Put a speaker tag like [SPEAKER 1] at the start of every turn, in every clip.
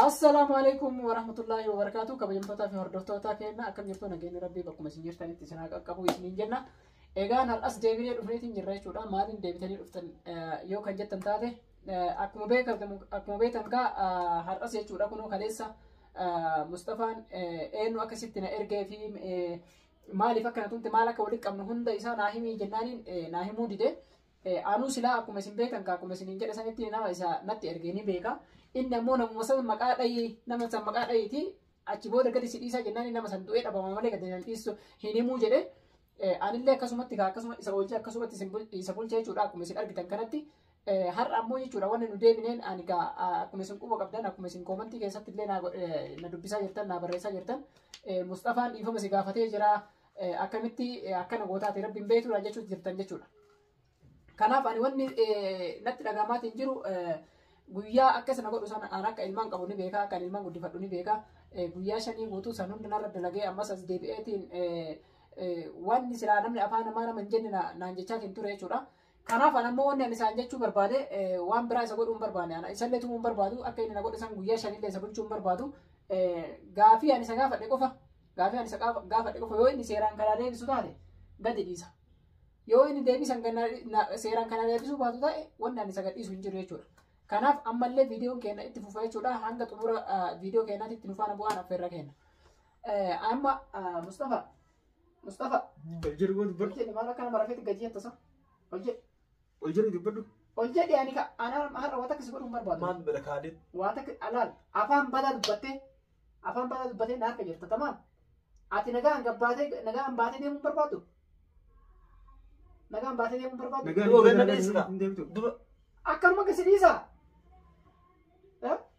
[SPEAKER 1] Assalaamu alaikum warahmatullaahi wabarakaatu kabajamtootaa fi hordoftoota keenya akkam jirtu nageenyi rabbii bakkuma isin jirtanitti isin haa qaqqabu isiniin jenna. Egaan har'as deebinee dhufneetiin jirra jechuudha. Maaliin deebitanii dhuftan yoo kan jettan taate akkuma beekamu akkuma beektan kaa har'as jechuudha kunoo kaleessa Mustafaan eenyu akka sitti na ergee fi maaliif akka na tumte maal akka walitti qabnu hunda isaa naa himii jennaaniin naa himuu dide. Anuu silaa akkuma isin beektan kaa akkuma isiniin jedhe sanitti nama isa natti erge ni beeka. Inni ammoo namuma san maqaa dhayii nama san maqaa dhayiiti achi booda gadi si dhiisaa jennaan nama san du'ee dhabama malee gadi nan dhiisu hin himuu jedhe. Anillee akkasumatti kaa akkasuma isa oolchee akkasumatti isin bul- isa bulchee jechuudha akkuma isin argitan kanatti. Eh, Har'a ammoo jechuudha wanni nu deebineen ani gaa ah, akkuma isin quba qabdan akkuma isin koomantii keessatti illee na go- eh, na dubbisaa jirtan na barreessaa jirtan. Eh, Musxafaan dhiifama si gaafatee jira. eh, akkamitti eh, akkana gootaati rabbiin beektuudha jechuutti jirtan jechuudha. Kanaaf ani wanni eh, natti dhagahamaatiin jiru eh, guyyaa akka sana godhu sana an akka ilmaan qabu ni beeka akka ilmaan guddifadhu ni beeka Eh, guyyaa shanii guutuu san hunda narra dalagee ammas as deebi'eetiin eh, eh, wanni silaa namni afaan namaa nama hin jenne na- naan jechaatiin ture jechuudha. Kanaaf ana immoo wanni ani isaan jechuu barbaade waan biraa isa godhuu hin barbaanne ana isallee tumuu hin barbaadu akka inni na godhe san guyyaa shanillee isa bulchuu hin barbaadu gaafii ani isa gaafadhe qofa gaafii ani isa gaafadhe qofa yoo inni seeraan kanaa deebisu taate gadi dhiisa yoo inni deebisan seeraan kanaa deebisuu baatu ta'e wanni ani isa gadhiisu hin jiru jechuudha. Kanaaf ammallee viidiyoon keenya itti fufa jechuudha hanga xumura viidiyoo keenyaatti itti nufaana bu'aan affeerra keenya. Amma Mustafa Mustafa. Ol jedhi moo dubbadhu. Ol jedhi maal akkana marafeetti gadi jetta sa? Ol jedhi. Ol jedhi dubbadhu. Ol jedhi ani ka ana har'a waan takka si godhuun barbaadu. Maal bira kaadee.
[SPEAKER 2] Waan takka alaal
[SPEAKER 1] afaan badaa dubbattee afaan badaa dubbattee na harka jirta tamaam. Ati nagaan gabbaatee nagaan baatee deemuun barbaadu. Nagaan baatee deemuun barbaadu. Nagaan Duba ganna dheessaa. hin
[SPEAKER 2] deemtu. Duba. Akkanuma gasi
[SPEAKER 1] dhiisaa.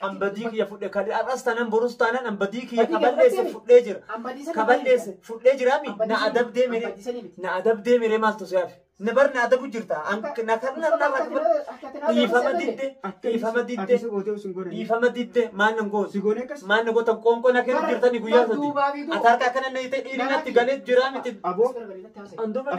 [SPEAKER 1] an badii kiyya fudhe
[SPEAKER 2] ka har'as tanan borus tanan an badii kiyya ka balleesse fudhee jira ka balleesse fudhee jira mi na adabdee mere na adabdee mere maaltu si hafe na bar na adabu jirta an na kan na na dhiifama didde dhiifama didde dhiifama didde maal nan goon maal na gootan qoonqoo na kennu jirtani guyyaa sadi ati harka akkana na hite dhiirinatti galee jira miti an
[SPEAKER 3] duuba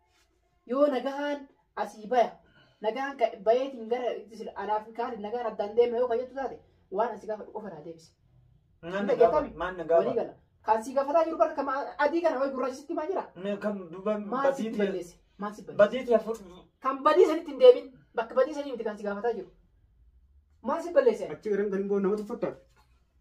[SPEAKER 1] Yoo nagahaan asii baya nagaan ka- bayeetiin gara sila- anaaf kaatiin nagaan addaan deema yoo kayyattu taate waan asii gaafadhu qofa naa deebisi. Maan na gaafata?
[SPEAKER 2] Maan na Walii gaafata? gala. Kan sii gaafataa
[SPEAKER 1] jiru bara kama adii kana wayi gurraacha sitti maa jira? Mee Kan duuba Maal sitti
[SPEAKER 2] badiitii
[SPEAKER 1] balleesse? Maal sitti
[SPEAKER 2] balleesse?
[SPEAKER 1] badiitii afur Kan
[SPEAKER 2] badii
[SPEAKER 1] sanitti hin deebin. Bakka badii sanii miti kan si gaafataa jiru. Maal si balleesse? Achi irratti kan boo nama
[SPEAKER 3] tuffattaaf.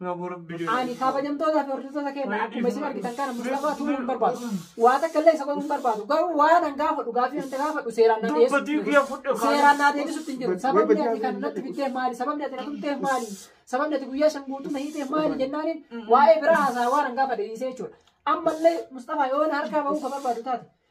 [SPEAKER 2] Ani kabajamtoota fi
[SPEAKER 1] hordoftoota keenya akkuma isin argitan kana Mustafaa tumuu hin barbaadu. Waa takka illee isa godhuu hin barbaadu. Garuu waan an gaafadhu gaaffii wanta gaafadhu seeraan naa deebisutti hin jiru. Seeraan
[SPEAKER 2] naa deebisutti hin
[SPEAKER 1] jiru. Sababni ati kan natti bitteef maali? Sababni ati na tumteef maali? Sababni ati guyyaa shan guutuu na hiiteef maali jennaaniin waa'ee biraa haasaa waan an gaafadhe dhiisee jechuudha. Ammallee Mustafaa yoo na harkaa bahuu ka barbaadu taate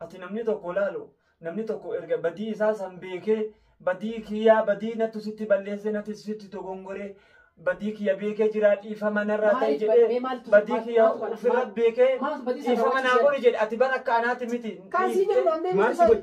[SPEAKER 1] Ati
[SPEAKER 2] namni tokko laalu namni tokko erga badii isaa san beekee badii kiyyaa badii nattu sitti balleessee natti sitti dogongoree badii kiyya beekee jiraa dhiifama narraa ta'e Maaliif jedhee badhee maaltu- badii maal- kiyya maaltu kana- ofirra maal- beekee maaltu badii sana dhiifama naa raawwachuu godhi jedhe ati bara akka anaati miti Kan si dhiiftee- jedhu dandeenye
[SPEAKER 1] Maal si godhe?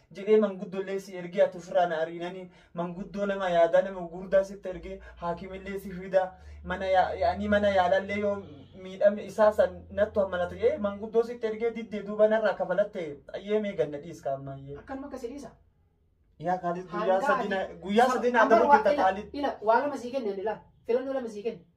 [SPEAKER 2] jedhee manguddollee si ergee ati ofirraa na ariinanii manguddoo nama yaadaa nama gurdaa sitti ergee haakimillee si fidaa mana yaa- yaanii mana yaalallee yoo miidhamne isaa san nattu hammalata jedhee manguddoo sitti ergee diddee duuba narraa kafalatte ayyee mee ganna dhiiska amma ayyee. Akkanuma akka si
[SPEAKER 1] dhiisa. Yaa kaalis
[SPEAKER 2] guyyaa sadii na- guyyaa sadii naa Amma dabuu waa- jirta ila- kaalis. Ila waa lama sii kenne
[SPEAKER 1] ani laal. Filannoo lama sii kenne.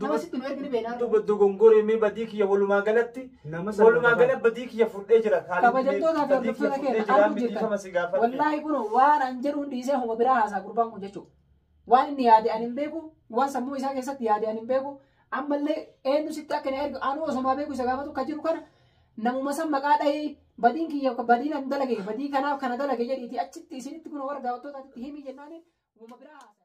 [SPEAKER 1] Nama sitti nu ergi ni beeknaa. Duba dogongoree mee badii
[SPEAKER 2] kiyya walumaa galatti Nama salphata walumaa ta'a. gala badii kiyya fudhee jira. Haalli Kabajamtootaa fi badii
[SPEAKER 1] kiyya hordoftoota fudhee keenya jira. arguu Miidhifama jirtan. si gaafadhe. Wallaahi kun waan an jedhuun dhiisee homa biraa haasaa gurbaan kun jechuudha. Waan inni yaade an hin beeku, waan sammuu isaa keessatti yaade an hin beeku. Ammallee eenyu sitti akka na ergu anuu osomaa beeku isa gaafatu kan jiru kana namuma san maqaa dhahii badiin kiyya badii nan dalage badii kanaaf kana dalage jedhiiti achitti isinitti kun warra daawwattootaatti himii jennaaniin homa biraa haasaa.